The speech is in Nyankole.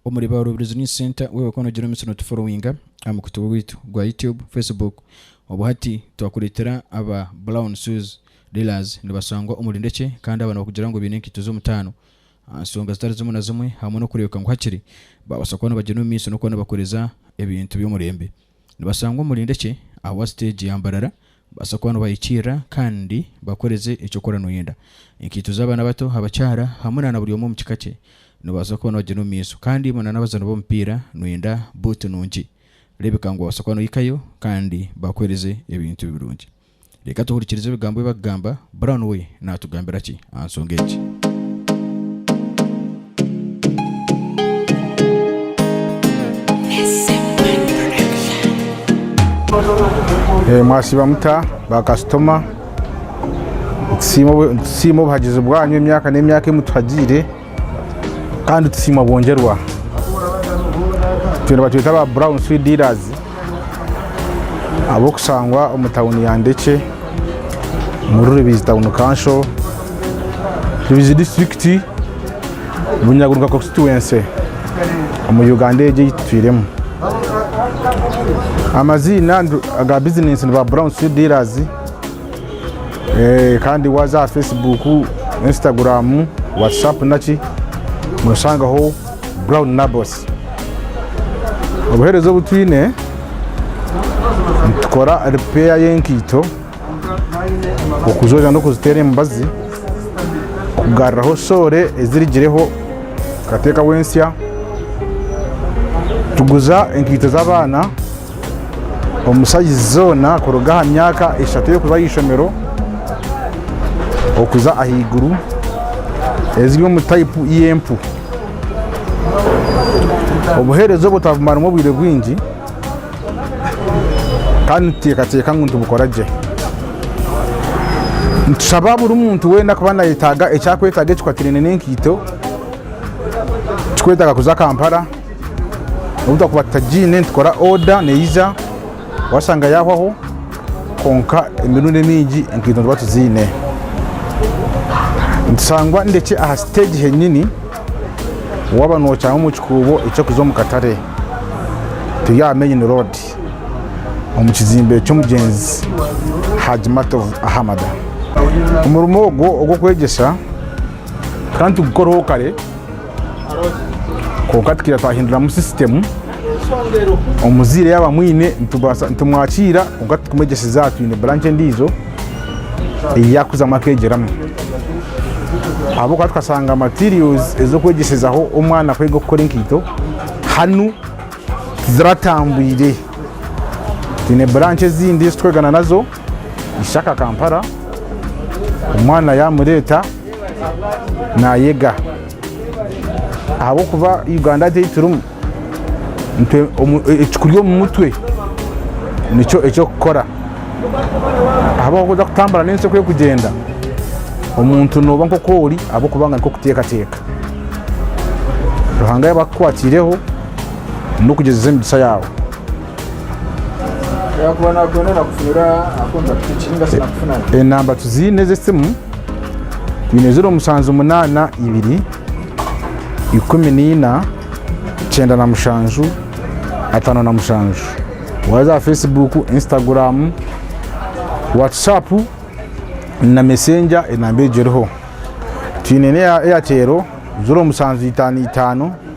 Omuri ba Rubirizi News Centre wewe kona ogira omutsyo notuforowinga aha mukutu gwaitu gwa YouTube, Facebook obu hati twakuretera aba Brown Shoes Dealers nibasangwa omuri Ndekye kandi aba nibakugira ngu baine enkaito z'omutaano aha nsonga zitari zimwe na zimwe hamwe n'okureebeka ngu hakiri babasa kuba nibagyenda omu maiso n'okuba nibakoreza ebintu by'omurembe. Nibashangwa omuri Ndekye ahabwa siteegi ya Mbarara babaasa kuba nibahikiirira kandi bakoreze eki okora noyenda. Enkaito z'abaana abato, abakyara hamwe na na buri omwe omu kika kye nibabaasa kuba nibagyenda omu maiso kandi imwe na n'abazaani b'omupiira noyenda buutu nungi, reebeka ngu wabaasa kuba nohikayo kandi bakuhereze ebintu birungi. Reka tuhurikirize ebigambo ebi barikugamba. Brown we naatugambira ki aha nshonga egi? Mwasiiba muta baakasitoma? Nitusiima obuhagizi bwanyu emyaka n'emyaka ei mutuhagiire. Kandi tusiima bwongyerwa. Itwe nibatweta aba brown sweet dealers ab'okushangwa omu tawuni ya Ndekye omuri Rubizi tawuni kansho, Rubizi disiturikiti, Bunyaguruka konsituwense omu Uganda egi ei tutwiremu. Amaziina aga bizinensi ni ba brown sweet dealers. Kandi waza aha Facebook, Instagram, Whatsapp naki noshangaho brown nabos. Obuhereza obu twine nitukora repair y'enkaito, okuzooza n'okuziteera emibazi, kugaruraho soore ezirigireho tukateekaho ensya, tuguza enkaito z'abaana. Omushaija zoona kuruga aha myaka eshatu y'okuza aha ishomero okuza ahaiguru eziri omu tayipu y'empu. Obuheereza obwo twabumaramu obwire bwingi kandi nituteekateeka ngu nitubukora gye. Nitushaba buri muntu weena ku naayetaaga eki arikwetaaga ekikwatiraine n'enkaito, turikwetaaga kuza Kampala. Obu twakuba tutagiine nitukora oda neija washanga yahwaho kwonka emirundi emingi enkaito nituba tuziine. Nitushangwa ndekye aha siteegi henyini waaba noocanga omu kikuubo eky'okuza omu katare. Turi aha meyini roodi omu kizimbe ky'omugyenzi Haji Mato Ahamada. Omurimo ogwo ogw'okwegyesa, tukaba nitugukoraho kare Kwonka tukaija twahinduramu sisitemu, omuzaire yaaba amwine nitubaasa nitumwakiira kwonka titukumwegyeseze aha twine buranki endiijo ei yaakuzamu akeegyeramu. Ahabw'okuba tukashanga materials ez'okwegyeshezaho omwana kwega kukora enkaito hanu tiziratambwire. Twine buranki ezindi ezi turikwegana nazo. ishaka Kampala omwana yamureeta nayega ahabw'okuba Uganda egi ei turimu ekikuri omu mutwe nikyo eky'okukora ahabw'okuba kuza kutambura n'ensi oku erikugyenda omuntu nooba nk'oku ori ahabw'okuba ngu nikwo kuteekateeka. Ruhanga yaaba akukwatiireho n'okugyezesa emigisa yaawe. yakuba nakwenda nakufunira akontakiti piki ninga sinakufuna enamba tuziine ez'esimu twine ziro mushanju munaana ibiri ikumi naina kyenda na mushanju ataano na mushanju waaza aha facebook instagram whatsapp na messenger enamba egyo eriho twine n'eya airtel ziro mushanju itaano itaano